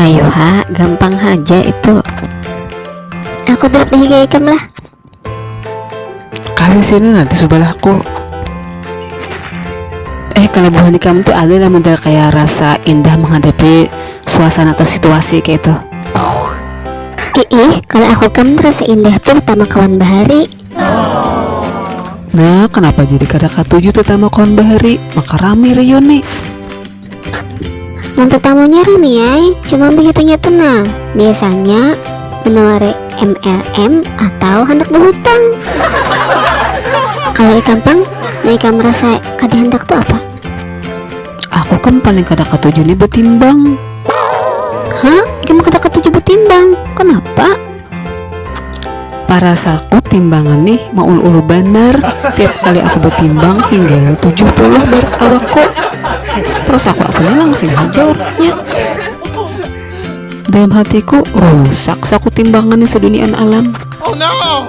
ayo ha gampang haja itu aku duduk di higa ikam lah kasih sini nanti sebelahku eh kalau buhan ikam tuh ada lah model kayak rasa indah menghadapi suasana atau situasi kayak itu Ih, kalau aku kamu rasa indah tuh pertama kawan bahari. Nah, kenapa jadi kada katuju tetama kawan bahari? Maka rame reuni. Yang tetamunya rami ay, cuma begitunya tuh nah. Biasanya menawari MLM atau hendak berhutang. Kalau ikam pang, nah ikam merasa kada hendak tuh apa? Aku kan paling kada katuju nih betimbang. Hah? Ikam kada katuju betimbang? Kenapa? Parasaku timbangan nih maulu-ulu banar tiap kali aku batimbang hingga tujuh puluh barat awakku. Perasaku aku nih langsing haja orangnya. Dalam hatiku, rusak saku timbangan nih seduniaan alam. Oh no!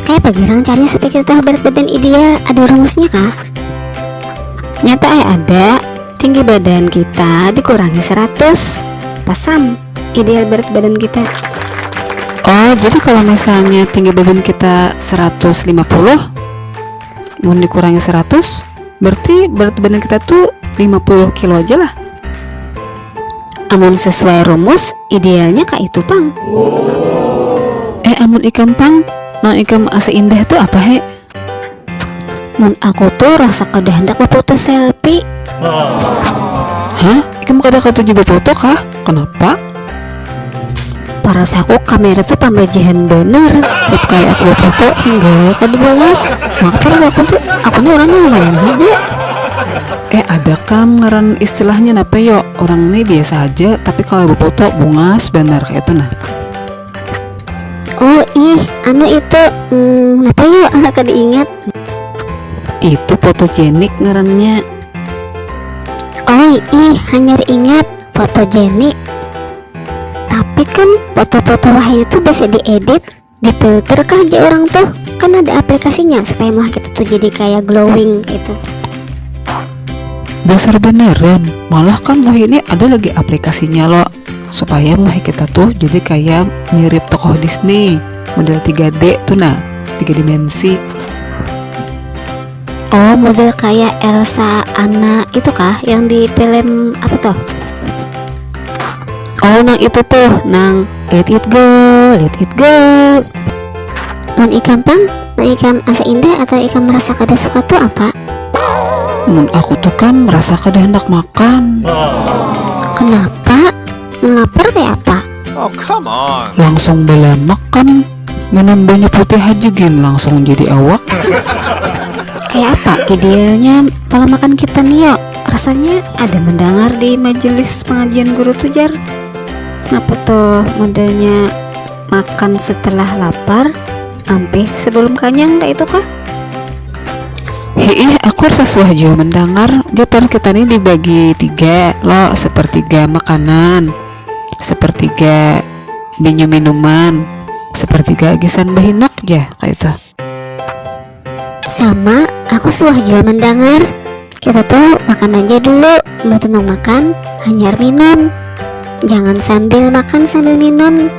Kaya pagarang caranya sapikir tahu berat badan ideal ada rumusnya kah? Nyata ai ada, tinggi badan kita dikurangi seratus, pasam. ideal berat badan kita oh jadi kalau misalnya tinggi badan kita 150 mau dikurangi 100 berarti berat badan kita tuh 50 kilo aja lah amun sesuai rumus idealnya kak itu pang eh amun ikam pang nang ikam asa indah tuh apa he Mun aku tuh rasa kada handak bafoto selfie. Hah? Ikam kada katuju bafoto kah? Kanapa? Parasaku kamera tuh pambajihan banar, tiap kali aku bafoto hinggawa kada bagus. Maka parasaku tuh aku nih urangnya lumayan haja. Eh ada kam ngaran istilahnya napa yo, urang nih biasa haja tapi kalo bafoto bungas banar kaya itu nah. oh ih anu itu hmm, apa yuk aku diingat itu fotogenik ngarannya oh ih hanyar ingat fotogenik tapi kan foto-foto wahyu itu bisa diedit difilter kah aja orang tuh kan ada aplikasinya supaya muka kita tuh jadi kayak glowing gitu dasar beneran malah kan wah ini ada lagi aplikasinya loh supaya muha kita tuh jadi kayak mirip tokoh Disney model 3D tuh nah tiga dimensi oh model kayak Elsa Anna itu kah yang di film apa tuh oh nang itu tuh nang let it go let it go non ikan tang Mun ikam asa indah atau ikam merasa kada suka tu apa? Mun aku tu kam merasa kada handak makan. Kenapa? Mun lapar kaya apa? Oh, come on. Langsung balamak kam minum banyu putih haja gin langsung jadi awak. Kaya apa idealnya pola makan kita ni yo? Rasanya ada mendengar di majelis pengajian guru tu jar. Kenapa tuh modelnya makan setelah lapar? Ampih, sebelum kanyang dah itu kah? Hiih, aku rasa suah jua mendangar jatuan kita ni dibagi tiga lo, sepertiga makanan, sepertiga binyu minuman, sepertiga gisan behinak ja kayak itu. Sama, aku suah jua mendangar. Kita tuh makan aja dulu, betul nang makan, hanyar minum. Jangan sambil makan sambil minum,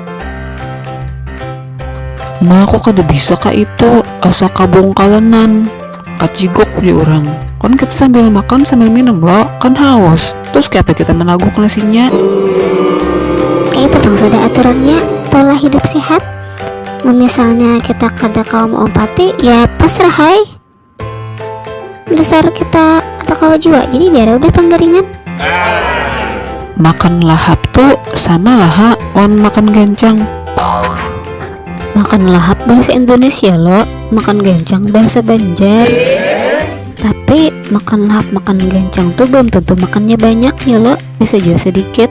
Ma, ko kada bisa ka itu, asa kabungkalanan, kaciguk ujar urang. Kan kita sambil makan sambil minum lo, kan haus, terus kaya apa kita managuk nasinya. Kaya itu pang sudah aturannya pola hidup sehat, mun misalnya kita kada kawa maumpati ya pasrah ai. dasar kita atau kawa jua jadi biar udah panggaringan makan lahap tu sama laha wan makan gancang makan lahap bahasa Indonesia lo makan gancang bahasa Banjar tapi makan lahap makan gancang tuh belum tentu makannya banyak ya lo bisa juga sedikit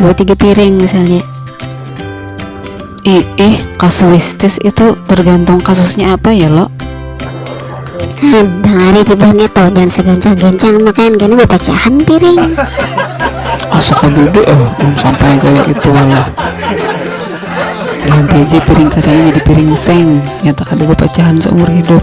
dua tiga piring misalnya ih, ih kasuistis itu tergantung kasusnya apa ya lo Bang Ari tibahnya tau jangan segancang-gancang makan karena bapacahan piring asa kadudu eh belum sampai kayak itu lah nanti aja piring katanya jadi piring seng nyata kada bapacahan seumur hidup